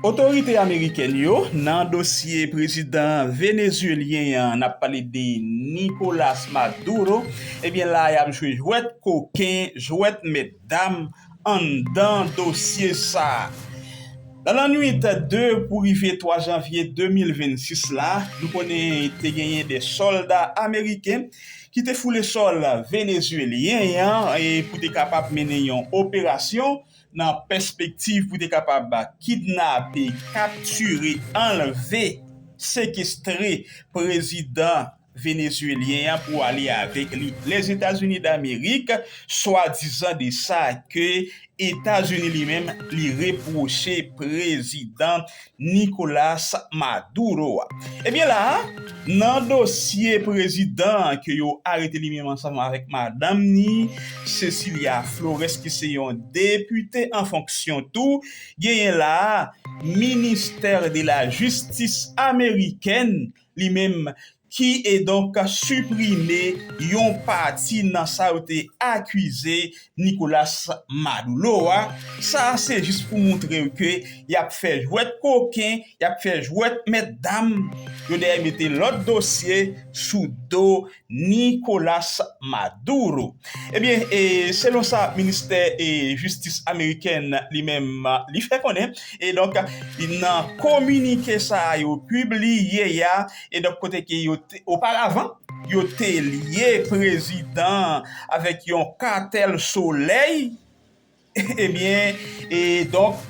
Otorite amerikèn yo nan dosye prezidan venezuelyen an, nap pale de Nicolas Maduro, ebyen la a yap jwe jwèt koken, jwèt mèt dam anndan dosye sa a. Nan lannwit 2 pou rive 3 janvye 2026 la, nou konnen te genyen 2 sòlda ameriken ki te foule sòl venezuelyen an pou te kapab mennen yon operasyon, nan pèspektiv pou te kapab kidnape, kaptire, anlve, sekestre prezidan venezuelyen an pou ale avèk li Lèzetazini Damerik, swadizan de sa ke Etazini li menm li repwoche prezidan Nicolas Maduro a. Ebyen la a, nan dosye prezidan an ke yo arete li menm ansanm avèk madanm ni, Cecilia Flores ki se yon depite an fonksyon tou, genyen la a ministè de la jistis amerikèn li menm ki e donk siprime yon pati nan sa yo te akize Nicolas Madoulo a, sa a se jis pou moutre yo ke y ap fè jwèt koken, y ap fè jwèt mèt dam, yo dèyè mete lòt dosye sou do Nicolas Maduro. Ebyen, selon sa ministè jistis amerikèn li menm li fè konnen, e donk nan kominike sa a yo pibliye a, E donk kote ke yo te, oparavan, yo te lye prezidan an avèk yon katèl solèy, ebyen, e donk,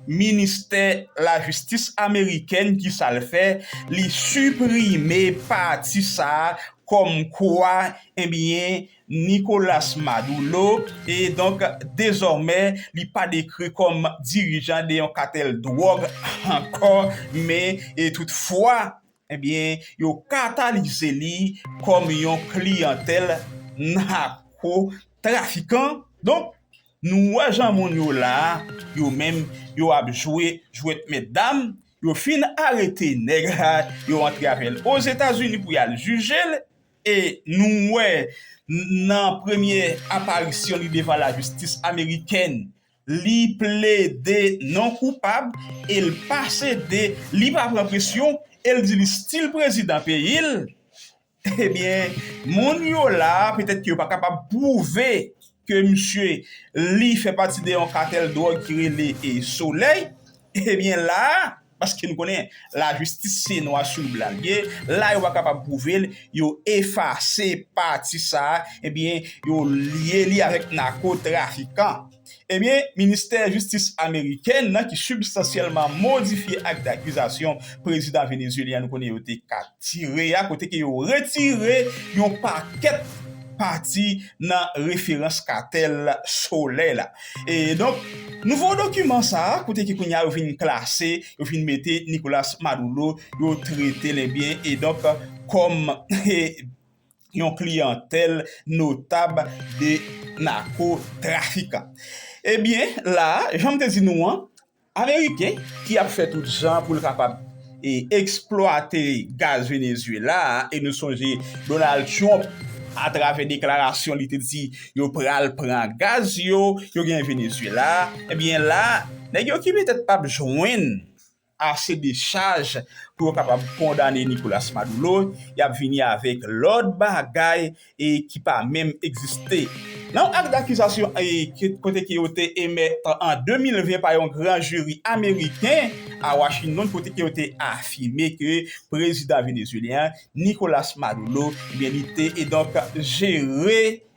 ministè lajistis amerikèn ki sa l fè, li siprime pati sa a kòmkwa, ebyen, Nicolas Maduro e donk dezòmè li pa dekri kòm dirijan de yon katèl dwòg ankò men tout fwa ebyen yo katalize li kòm yon kliyantèl nako trafikan donk nou wè jan moun yo la yo menm yo ap jwe jwèt mèt dam yo fin arete nèg la yo antre avèl ozetazini pou yal jijel E nou wè nan premye aparisyon li devan lajistis amerikèn, li plede non koupab e l pa sede, li pa pran presyon e l di li stil prezidan peyi l, ebyen moun yo la a petèt ke yo pa kapab pwouve ke misye li fè pati de yon katèl dwòg ki rele Solèy, ebyen la a. Paske nou konnen lajistis se nwa sou blan li ye, la yo pa kapab pwouve l, yo efase pati sa a, ebyen yo lye li avèk nako trafikan. Ebyen ministè jistis amerikèn nan ki sibstansyèlman modifye ak dakizasyon prezidan venezyelyen an nou konnen yo te ka. tire a kote ke yo retire yon pakèt pati nan referans katèl solèy la. E donk, nouvo dokiman sa a kote ke kounye a yo vin klase, yo vin mete Nicolas Maduro, yo trete l ebyen e donk kòm yon kliyantèl notab de nako trafikan. Ebyen la, jan m te di nou an, Ameriken ki ap fè tout jan pou l kapab eksplwate gaz Venezuela a e nou sonje Donald Trump atravè deklarasyon li te di yo pral pran gaz yo yo gen Venezuela a ebyen la nèg yo ki petèt pap jwenn ase de chaj pou yo kapab kondane Nicolas Maduro y ap vini avèk lòt bagay ki pa menm egziste. Nan yon ak dakizasyon kote ke yo te emèt an 2020 pa yon gran jiri ameriken a Washington kote ke yo te afime ke prezidan venezuelyen an Nicolas Maduro li te jere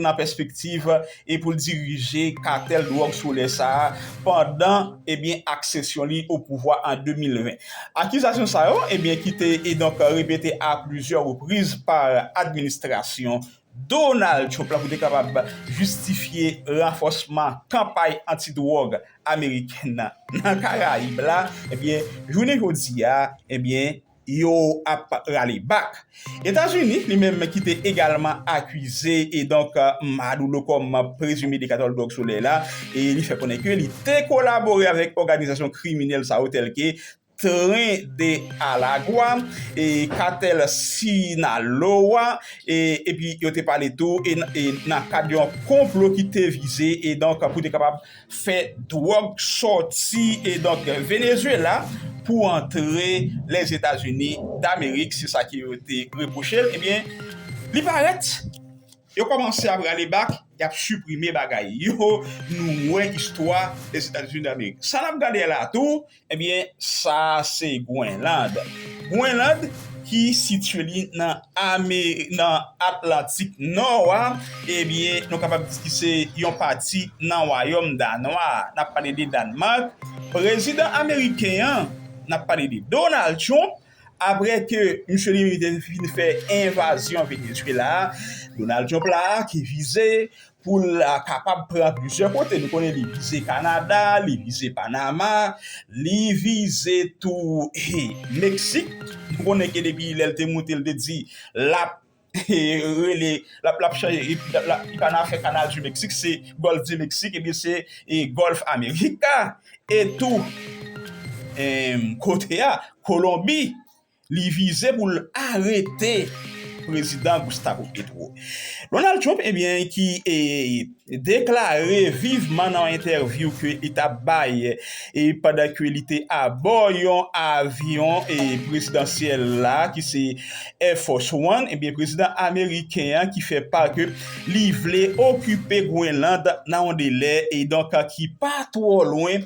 nan pèspektiv e pou l dirije katèl dwòg solè sa a pandan ebyen aksesyon li o pouvwa an 2020. Akizasyon sa yo ebyen ki te edonk repete a plizyè repriz pa administrasyon Donald Trump la pou te kapab jistifye ranfòsman kanpay anti dwòg amerikèn nan nan Karayib la ebyen jounen jodi a ebyen yo ap rale bak. Etazini, li menm ki te egalman akize e donk Madoulo kòm prezime dekatè dwòg solèy la, e li fè konnen ke li te kolabore avèk òganizasyon kriminèl sa yo tèlke Tren de Alagwa e Katèl Sinaloa e epi yo te pale tou e nan kad yon konplo ki te vize e donk pou te kapab fè dwòg sòti e donk Venezuela pou antre Lèzetazini Damerik se sa ke yo te repwoche l ebyen li parèt yo kòmanse ap rale bak y ap siprime bagay yo nou wè istwa Lèzetazini Damerik sa n ap gade a la tou Ebyen sa se Gwenland. Gwenland ki sitye li nan ame nan Atlantik Nò a, ebyen nou kapab di ki se yon pati nan wayòm Danwa a. N ap pale de Danemark. Prezidan ameriken an, n ap pale de Donald Trump, Apre ke misye li te fin fè envazyon Venezuela a, Donald Trump la a ki vize pou l kapab pran plizyè kote. Nou konnen li vize Kanada, li vize Panama, li vize tou Meksik. Nou konnen ke depi lè l te moute l te di l ap rele lap lap chanje li pa nan fè kanal di meksik se gòlf di meksik ebyen se gòlf amerika etou kote a kolonbi li vize pou l arete prezidan gustavo petro donald trump ebyen ki deklare viveman nan yon entèvyou ke li ta bay pandan ke li te abò yon avyon prezidansyèl la ki se Air Force One, ebyen prezidan ameriken an ki fè part ke li vle okipe Grenland nan yon delè e donk ki pa twò lwen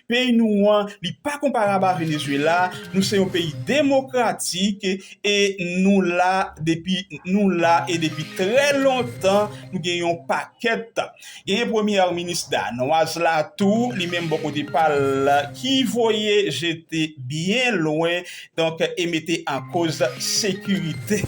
Peyi nou an, li pa konparab a Venezuela, nou se yon peyi demokratik e nou la depi nou la e depi trè lontan nou gen yon pakèt tan. Genyen premyè minis Danoise la tou, li menm bò kote pa l ki voye jete byen lwen donk e mete an koz sekirite.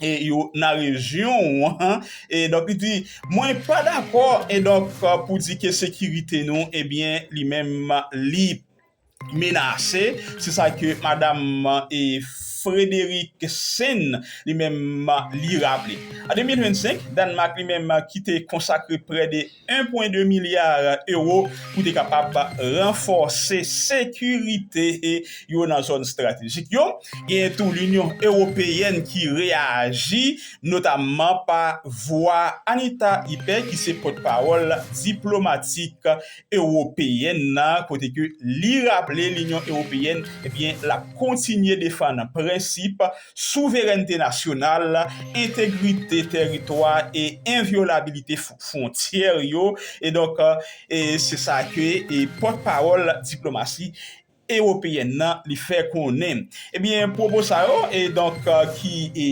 e yo nan rejyon ou an, e donk li di, mwen pa dakò, e donk pou di ke sekirite nou, ebyen li menm li menase, se sa ke madam e Frédérique Sehn li menm li raple. An 2025, Dànmak li menm ki te konsakre prè de. 1,2 milya ewo pou te kapab ranfòse sekirite yo nan zòn estratejik yo. Genyen tou Linyon Ewopeyèn ki reyaji, notamman pa vwa Anita Hype ki se pòtpawòl diplomatik ewopeyèn nan kote ke li raple Linyon Ewopeyèn ap kontinye defann prensip souverènte nasyonal, entegrite tèritwa e envyolabilite fwontyè yo, e donk se sa ke pòt pawòl diplomasi ewopeyèn nan li fè konnen. Ebyen pwopo sa yo e donk ki e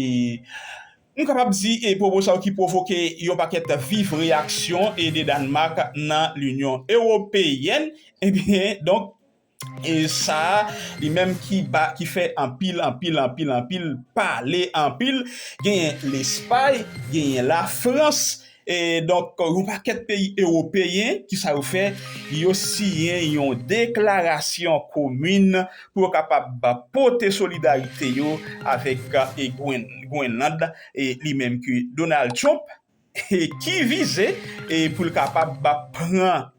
nou kapab di e pwopo sa yo ki pwovoke yon pakèt viv reyaksyon e de Dànmak nan linyon ewopeyèn ebyen donk Sa-a, li menm ki pa, ki fè anpil, anpil, anpil, anpil pale anpil, genyen Lespay, genyen Lafrans, e donk yon pakèt peyi ewopeyen, ki sa yo fè? Yo siyen yon deklarasyon komin pou yo kapab pote solidarite yo avèk Gwenland, li menm ke Donald Trump Ki vize pou l kapab pran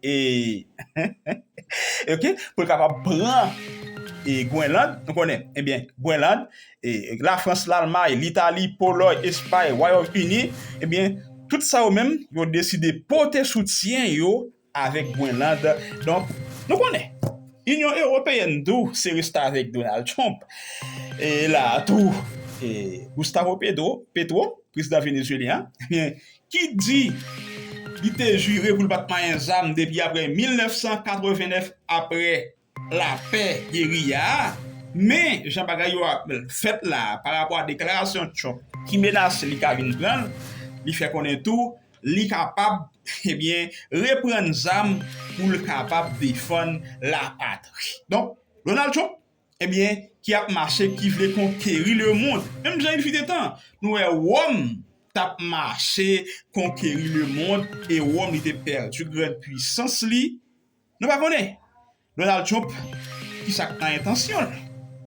Gwenland, nou konnen, ebyen, Gwenland, Lafrans, Lalmay, Litali, Polòy, Espay, Wayòm Ini, ebyen, tout sa yo menm, yo deside pote soutyen yo avèk Grenland donk nou konnen Inyon Ewopeyèn tou se restavèk Donald Trump e la a tou Gustavo Petro prezidan Venezuelyen an ebyen ki di li te jire pou l pat manyen zam depi aprè 1989 aprè. lafè geriya a, men jan bagay yo ap fèt la a parapò a deklarasyon Trump ki menase li ka vin pran l, li fè konnen tou li kapab ebyen reprann zam pou l kapab defann lapatri. Donk Donald Trump ebyen ki ap mache ki vle konkeri lemond menm jan il fut un temps nou wè Wòm t ap mache konkeri lemond e Wòm li te pèdi grand pwisans li Nou pa konnen Donald Trump ki sa k nan entansyon l.